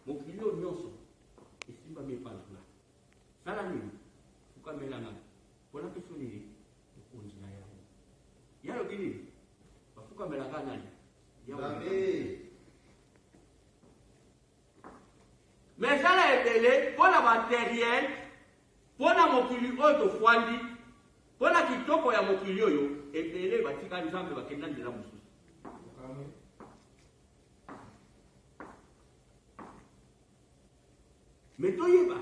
mokili oyo nyonso esimbami epai na ngai sala nini fukamela ngai mpo napesi yo nini mokonzi na yango ye alobi nini bafukamela ngai nani me esala ebele mpo na bateriel mpo na mokili oyo tofwandi mpo na kitoko ya mokili oyo ebele batika nzambe bakenda nzela mosusu me toyeba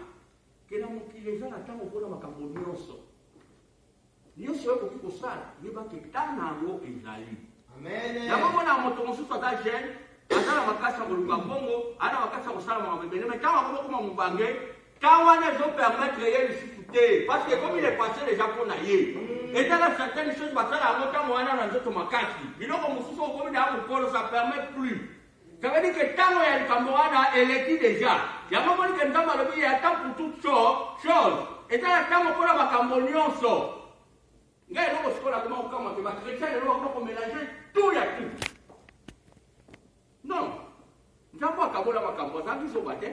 ke na mokili eza na ntango mpona makambo nyonso nyonso oyo okoki kosala yeba ke ntango na yango ezali yango mona moto mosusu aza jeune aza na makasi ya koluka mbongo aza na makasi ya kosala makambo ebele me ntango akoma koma mobange Temps wana ezo permettre ye lisusu te parce que ekomi lepasse deja mpo na ye ezala certaines choses basala yango ntango wana na nzoto makasi biloko mosusu okomi na ya mokolo ça permet plus ça veut dire que ntango ya likambo wana eleki deja yango omoni ke nzambe alobi ye ata pour toute chose ezala ntango mpo na makambo nyonso ngai eloko sikoyo nakoma kokamwa te bakristian lelo bakoma komelange tout ya tout non nzambe akabola makambo azalaki zoba te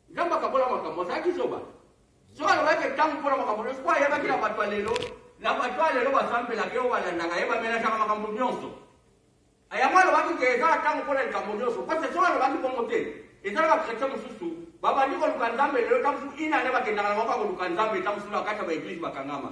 nzambe akabola makambo azalaki zoba so alobaki ntango mpo na makambo nyonso mpo ayebaki na bato ya lelo na bato ya lelo basambelaka yo balandaka ye bamelasaka makambo nyonso yango alobaki ke eza ntango mpo na likambo nyonso parce soki alobaki bongo te eza na bakretien mosusu babandi koluka nzambe lelo ntango mosusu inane bakendaka na moko ya koluka nzambe ntango mosusu na kati ya baeglize bakangama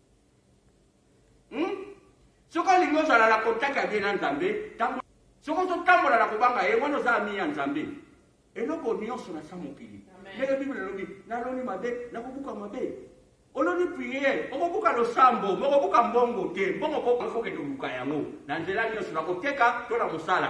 hmm? soki olingi ozala na contact ya bien na nzambe soki ozotambola na kobanga ye wana oza ami ya nzambe eloko nyonso na sa mokili ndenge biblia elobi naloni mabe nakobuka mabe oloni priere okobuka losambo mokobuka mbongo te mbongo kokende oluka yango na nzela nyonso na koteka to na mosala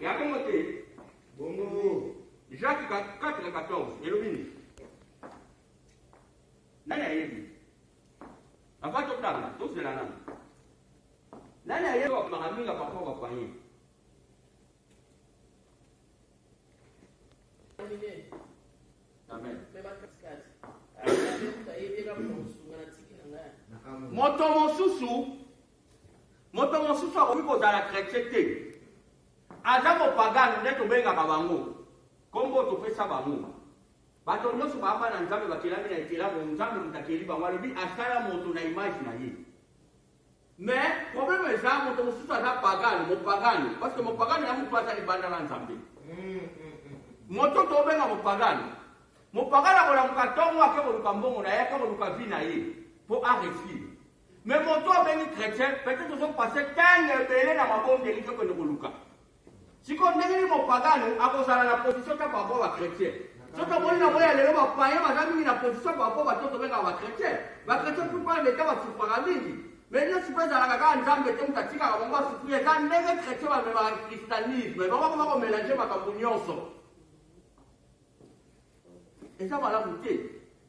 ya bongo te bongo jacques 414 elobi nini nani ayebi ava totanga tozela nani nani ayebi bakomaka mingi apapa bapaye Amen. moto mosusu moto mosusu akoki kozala kretien te aza mopagano nde tobengaka bango nkombo topesa bango bato nyonso baamba na nzambe bakelami na ekelamo nzambe moto akeli bango alobi asala moto na image na ye Mais problème eza moto mosusu aza pagane mopagane parce que mopagane ya motu aza libanda na nzambe moto tobenga mopagane mopagane akolamuka ntongo ake koluka mbongo na ye ake koluka vi na ye mpo aresire mais moto abengi chrétien peut-être ozopase ntango ebele na mabondeli tokende koluka sikoyo ndenge nini mopagano akozala na position kaka par rapport bachrétien soki omoni na boya lelo bapayen baza mingi na position par rapport bato tobengaka bachrétien bachrétien plupart leta basufraka mingi mais nyonso mpe ezalaka kaka nzambe te moto atikaka bango basufri eza ndenge chrétien bamemaka christianisme bango koma komelange makambo nyonso eza malamu te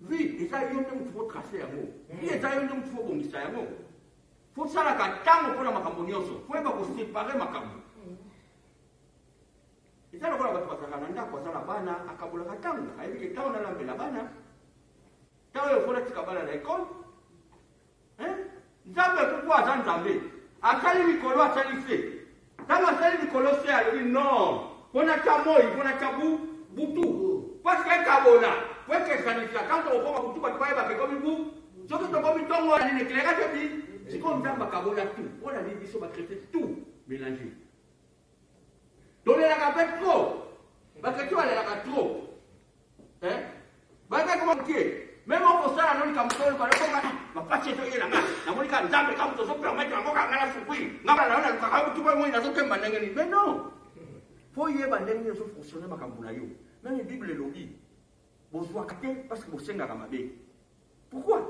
vi eza yo nde motu fotrace yango vi hmm. eza yo nde motu fobongisa yango fosalaka ntango mpo na makambo nyonso foyeba kosepare makambo hmm. eza lokola bato bazalaka na ndako aza na bana akabolaka ntango ayebi ke ntango nalambela bana ntango oyo fo natika bana na ekole Eh? nzambe kuku aza nzambe asali likolo asali se ntango asali likolo se alobi non mpo natya moi mpo natya butu parce que ekabona mpo ekesanisa ntango tokokoma butu bato bayebaka ekomi bu soki tokomi ntongo ya nini ekeleka te bi sikoyo nzambe akabona tu mpo na nini biso bakritin tu mélange tolelaka mpe tro bakreto balelaka tro eh? bayaka koma moke meme okosala no likambo toyokaokoka bapasi etoyelanga namoni ka nzambe kaka moto ozopermetre yango kanga na sukui ngaba nayo nalukaka yo tuba moi nazokemba ndenge nini mais non mpo oyeba ndenge nini ozofonctionne makambo na yo nani bible elobi bozwaka te parce que bosengaka mabe Pourquoi?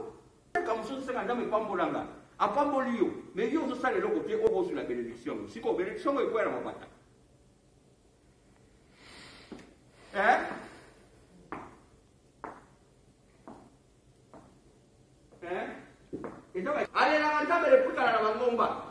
Kaka mosusu senga Nzambe epambola nga. Apamboli yo. Mais yo ozosala eloko te oko ozula benediction yango. Siko benediction yango ekwela mabata. Eh? Eh? Ezaka alelaka Nzambe leputana na bangomba.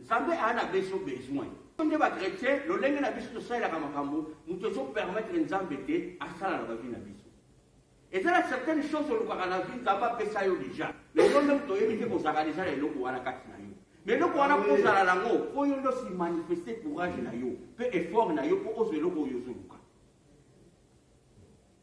nzambe aa na biso besoin nde bakretien lolenge na biso tosalelaka makambo moto ezopermettre nzambe te asala na bavi na biso eza na certaine chose olukaka na vi nzambe apesa yo deja lelo nde moto oyebi te kozalaka deja na eloko wana kati na yo me eloko wana mpo ozala nango mpo yo nde osimanifeste courage na yo mpe effort na yo mpo ozwa eloko oyo ozoluka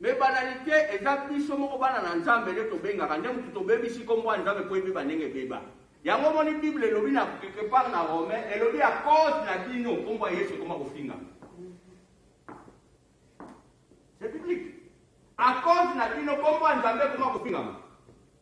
Mais banalite eza biso moko bana na Nzambe nde tobengaka nde mutu tobebisi kombo ya Nzambe po ebeba ndenge ebeba. Yango omoni Bible elobi na quelque part na Romain elobi à cause na bino kombo ya Yesu ekoma kofinga. C'est biblique. À cause na bino kombo ya Nzambe ekoma kofingama.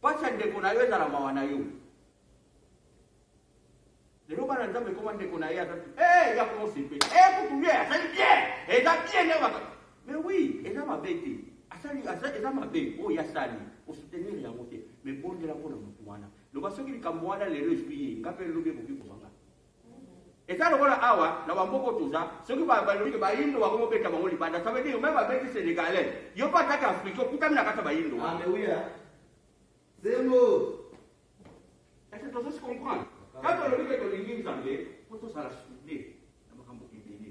Pacha ndeko na yo ezala mawa na yo. Lelo bana nzambe ekoma ndeko na ye aza eh ya ko sepe. Eh kutu ye azali bien. Eza bien na baka. Mais oui, eza mabe te. Asali asa eza mabe oyo ya sali. O soutenir yango te. Mais bondela mpona motu wana. Loba soki likambo wana lelo ezwi ye, nga mpe lobi ekoki kozwa nga. eza lokola awa na bamboka oyo toza soki balobi ke bayindo bango mobeta bango libanda ça veut dire meme babeti sénégalais yo mpe atake africain okutami na kati ya bayindo zembo ese tozo se comprendre kaka olobi ke tolingi nzambe mpo tozala soude na makambo ebele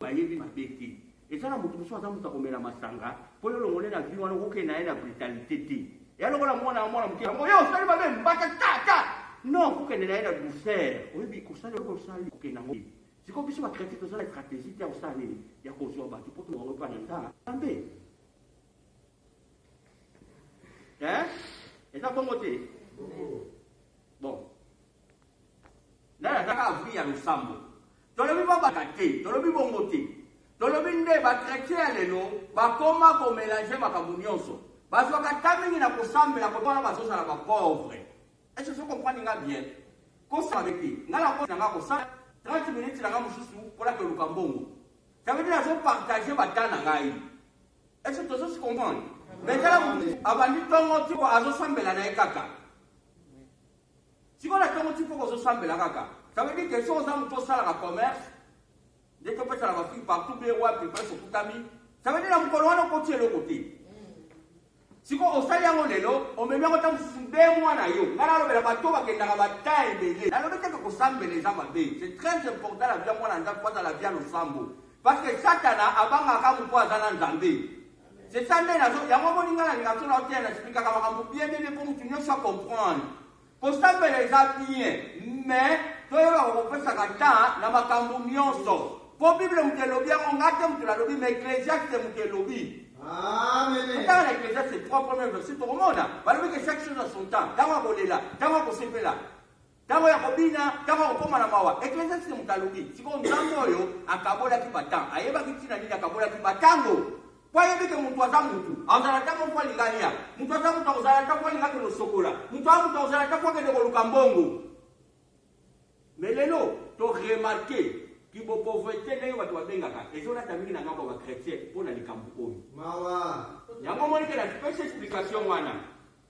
bayebi mabe te eza na moto mosusu aza moto akomela masanga mpo yo olongole na vi wana okokende na ye na brutalite te ya lokola mwana ya mwana moke yango yo osali mabe mbata tata non okokende na ye na douceur oyebi kosala eloko osali kokende yango sikoyo biso bakretin toza na stratégie te ya kosala nini ya kozwa bato mpo tobango mpa na nzala nzambe eza bongo te bon nde azaka avri ya losambo tolobi babaka te tolobi bongo te tolobi nde bakretien ya lelo bakoma komelange makambo nyonso bazwaka ta mingi na kosambela kotwana bazozala bapauvre ece so comprendre nga bien kosala be te nga na koti na nga kosala 30 minutes na nga mosusu mpona toluka mbongo ça veut dire azopartage bata na ngai ece tozosi comprendre mais tala abandi ntongo tiko azosambela na ye kaka sikoyo na ntongo tifoko ozosambela kaka ça veut dire que soki oza moto osalaka commerce nde topesana bafri partout be wapi place okutami ça veut dire na mokolo wana okoti eloko te sikoyo osali yango lelo omemi yango ntango mosusu nde mwana yo ngai nalobela bato bakendaka bata ebele nalobi teke kosambela eza mabe c'est très important la vie ya mwana nzambe po azala vie ya losambo parce que satana abangaka moto aza na nzambe C'est ça nde nazo yango omoni ngai nalinga tuna oteya na explika kama kambo bien bien bien mpo motu nyonso acomprendre kosambela eza bien mais toyebaka kopesaka temps na makambo nyonso mpo bible moto elobi yango ngai te moto nalobi ma ecclesiaste moto elobi otanga na ecclesiaste trois premier verset tokomona balobi ke chaque chose a son temps ntango akolela ntango akosepela Tango ya kobina, tango ya kokoma na mawa. Ecclesiastique moto alobi, sikoyo Nzambe oyo akabolaki batango, ayebaki ntina nini akabolaki batango. Mpo ayebi ke moto aza moto, azala ntango mpo alinga alia, moto aza moto akozala ntango alinga akende osokola, moto aza moto akozala ntango akende koluka mbongo. Mais lelo, to remarke kibo pauvreté ndenge bato babengaka ezolata mingi na ngambo ya bachrétien mpo na likambo oyo. Mawa! Yango omoni ke na pesi explication wana.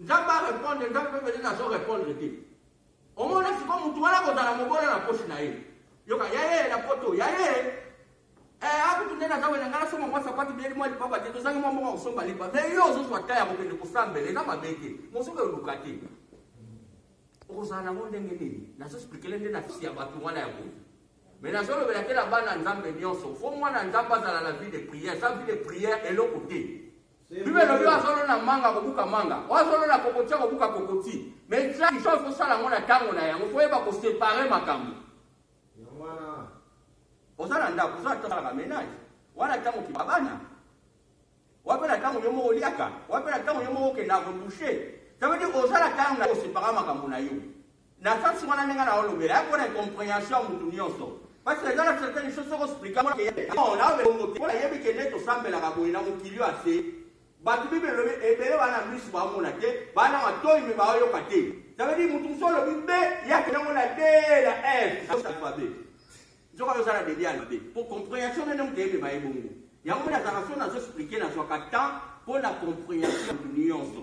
Nzambe a repondre, Nzambe pe peut-être azo repondre te. Omona siko mutu wana kozala mobola na poche na ye. Yoka ya ye na poto, ya ye. Eh akutu nde naza wena ngala soma mwa sapati beli mwa lipapa te tozangi mwa mbongo kosomba lipa. Mais yo ozo zwa ta ya kokende kosambela eza mabe te. Mosuka oluka te. Okozala nango ndenge nini? Nazo expliquer nde na fisi ya bato wana ya boye. Mais nazo lobela te na bana Nzambe nyonso. Faut mwana Nzambe azala na vie de prière, sa vie de prière eloko te. Bible elobi oyo azolona manga akobuka manga, oyo azolona kokoti akobuka kokoti. Mais chaque chose kosala yango na ntango na yango, koyeba kosepare makambo. Oza na ndako, oza natalaka menage, wana ntango kima bana, wape na ntango yo moko oliaka, wape na ntango yo moko okenda kodushe. Ça veut dire oza na ntango na kosepara makambo na yo. Na sens wana ndenge na olobela yako na incomprehension ya mutu nyonso. Parce que dans la certaine chose soko expliquer moi que non na obe bongo te. Pona yebi ke nde tosambelaka boye na mokili oyo ase bato bible elobi ebele bana misu baomona te bana matoi me baoyoka te ça veut dire mutu mosusu olobi be yake nango na de na f alphabet nzoka yo osala debi alphabet po comprehension nene moto eyebema ye bongo yango mpe nazalaka so nazo explike nazwaka temps mpo na comprehension nyonso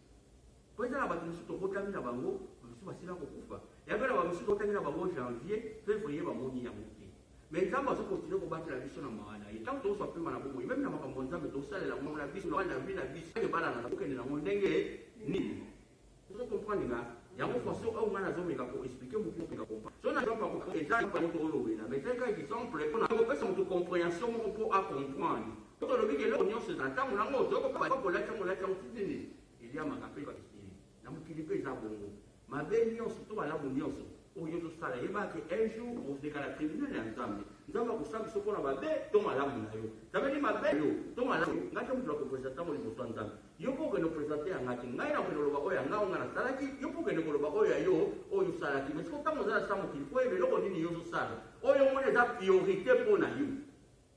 mpo eza na bato mosusu tobotami na bango bamosusu basila kokufa yango na bamosusu tobotami na bango janvier fevrier bamoni yango te me nzambe azokontinue kobatela biso na mawa na ye ntango tozwa mpema na bomoi meme na makambo nzambe tosalela ngo na biso na vi na biso ebala na kokende nango ndenge nini ozo comprendre nga yango façon oyo ngai nazomeka ko explique motu mopeka kompa so na jampa eza moto olobela mais ezali kaka exemple mpona kopesa moto comprehension moko mpo acomprendre Soki olobi ke eloko nyonso ezala ntango na yango, ozoko bako kolati yango olati yango ti nini? Eliamaka mpe bakisili. Na mokili mpe eza bongo. Mabe nyonso to malamu nyonso oyo ozosala yeba ke un jour okozeka na tribunal ya Nzambe. Nzambe akosala biso mpo na mabe to malamu na yo. Nzambe ni mabe yo to malamu. Ngai te moto na kopresente yango liboso ya Nzambe. Yo mpe okende kopresente ya ngai te. Ngai nakokende koloba oyo ya ngai oyo ngai nasalaki, yo mpe okende koloba oyo ya yo oyo osalaki. Mai sikoyo ntango ozala sa mokili mpo oyeba eloko nini yo ozosala oyo omoni eza priorite mpo na yo.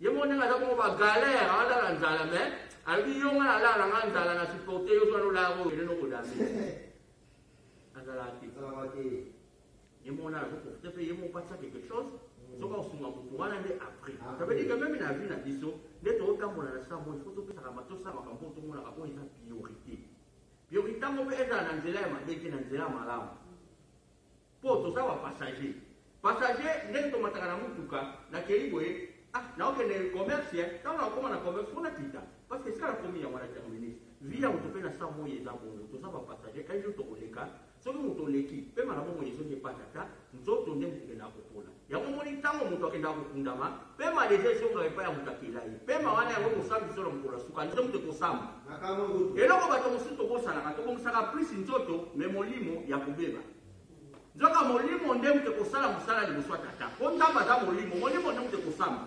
ye moko ndenge aza bongo bagalere alala nzala me alobi yo ngai alala nga nzala na supporte yo zwana olaya oyo ele nokodame azalaka te ye moko nana azoprofite mpe ye moko patisa quelque chose mm. soki osunga motu wana nde après ah, ça veut dire que meme na vie na biso nde tootambola na sika moi ifo topesaka matosa makambo oyo tomonaka oyo eza priorité priorité yango mpe ezala na nzela ya mabe te na nzela ya malamu Po toza ba passager. Passager ndenge tomataka na mutuka na keli boye ah naokende commerce eh ntango nakokoma na commerce mpo nakita parce que esika nakomi yango na terminus vi ya moto mpe na sa moi eza bongo toza bapassager un jour tokoleka soki moto oleki mpe mala bomoi ezoki epatata nzoto nde moto okendaka kopola yango omoni ntango moto akendaka kokundama mpe maleza ezongaka epai ya moto akela ye mpe ma wana yango mosambi biso na mokolo ya suka nde moto ekosamba eloko bato mosusu tobosanaka tobongisaka plus nzoto me molimo ya kobeba nzoka molimo nde moto ekosala mosala liboso ya tata mpo nzambe aza molimo molimo nde moto ekosamba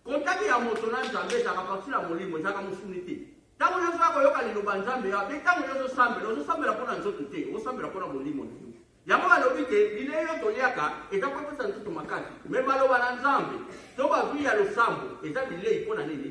kontaki ya moto na nzambe ezalaka bakisila molimo ezalaka mosuni te ntango nyonso ya koyoka liloba nzambe ya mpe ntango nyonso osambela ozosambela mpo na nzoto te osambela mpo na molimo na yo yango balobi te bilei oyo toliaka eza kopesa nzoto makasi me baloba na nzambe to bazwi ya losambo eza bilei mpo na nini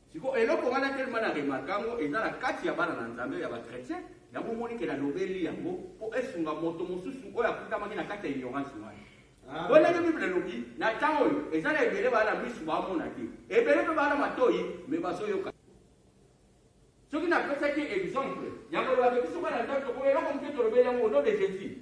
Sikoyo eloko wana tellement na remarka yango eza na kati ya bana na Nzambe ya ba chrétien, yango omoni ke nalobeli yango mpo esunga moto mosusu oyo akutamaki na kati ya ignorance wana. Bo ndenge Bible elobi, na ntango oyo eza na ebele baa na misu baamona te, ebele mpe baa na matoi me bazoyoka. Soki napesaki exemple ya koloba ke biso bana Nzambe tokoki eloko moke tolobeli yango au nom de Jesus.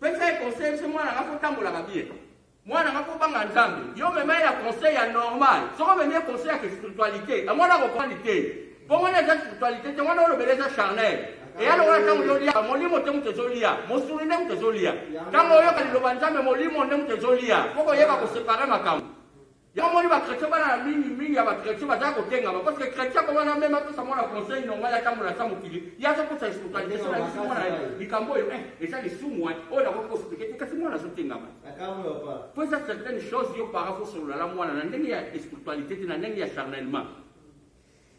pesa ye conseil biso mwana nga kotambolaka bie mwana nga kobanga nzambe yo mema ye na conseil ya normal soko omemi ye conseil ya spiritualité yango wana akoprandi te mpo wana eza spiritualité te wana olobela eza charnel eya lokola ntango ozolia molimo te moto ezolia mosuni nde moto ezolia ntango oyoka liloba nzambe molimo nde moto ezolia mpo koyeba kosepare makambo Yo omoni ba chretien bana na mingi mingi ya ba chretien bazali kotengama parce que chretien akoma na meme apesa mwana conseil nonga ya tambola ata mokili ye azokosa espiritualisation na biso mwana ye likambo oyo eh eza lisumu wan oyo nakoki kospike te kasi mwana azotengama po eza certaine chose yo para kosolola na mwana na ndenge ya espiritualité te na ndenge ya charnellement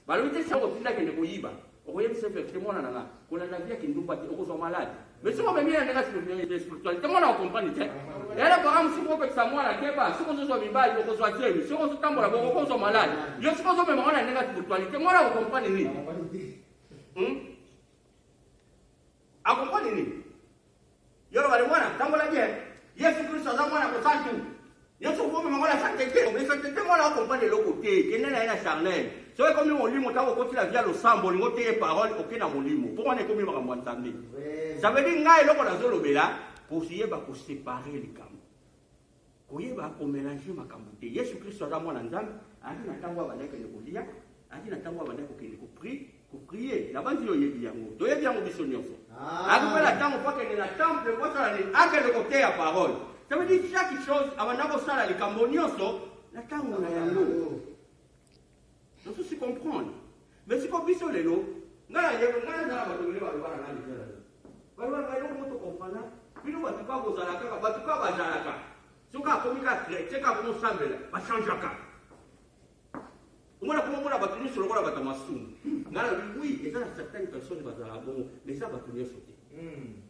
balobi te sango tinda kende koyiba okoyebisa verite mwana na nga kolanda via kindumba te okozwa malade mais soki omemi ya ndenge spiritualité mwana okomprani te yala baka mosuku opekisa mwana keba soki ozozwa mibali okozwa zemi soki ozotambola boko okozwa malade yo soki ozomema mwana ndenge spiritualité mwana okomprani nini A comprendre nini? Yolo bale mwana tambola bien. Yesu Kristo aza mwana mosantu. Yesu okomi mango na sante te, mais sante te mwana akompane eloko te, kende na ye na charnel. Soki ekomi molimo ntango okoti na via losambo olingi oteye parole oke na molimo mpo wana ekomi makambo ya nzambe ça veut dire ngai eloko nazolobela koyeba kosepare likambo koyeba komelange makambo te yesu kristo aza mwana nzambe azali na ntango abanda kende kolia azali na ntango abanda kokende kopri koprie nabanzi yo oyebi yango toyebi yango biso nyonso ah. azali mpe na ntango mpo akende na temple mpo asala nini akende koteya parole ça veut dire chaque chose abanda kosala likambo nyonso na ntango na yango Mosusu comprendre. Mais siko biso lelo nga na yeko nga na bato ebele baloba na nga lingala lelo. Baloba na nga eloko moto comprendre bino bato kaka kozala kaka bato kaka bazalaka soki akomi kaka chrétien kaka komi osambela bachangeaka omona koma omona bato nyonso lokola bato ya masumu nga na wi eza na certaine personne bazalaka bongo mais eza bato nyonso te hmm.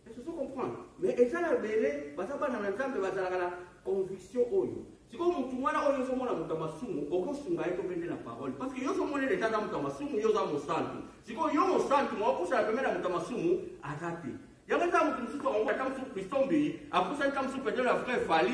Ezo comprendre mais eza na bele baza bana na Nzambe bazalaka na conviction oyo sikoyo motu wana oyo ozomona moto ya masumu okosunga ye topende na parole parce que yo ozomonela eza aza moto ya masumu yo oza mosantu sikoyo yo mosantu mokosala pembe na moto ya masumu aza te yango eza moto mosusu yango ata mosusu christon mbeyi apusani ta mosusu petele ya frère fali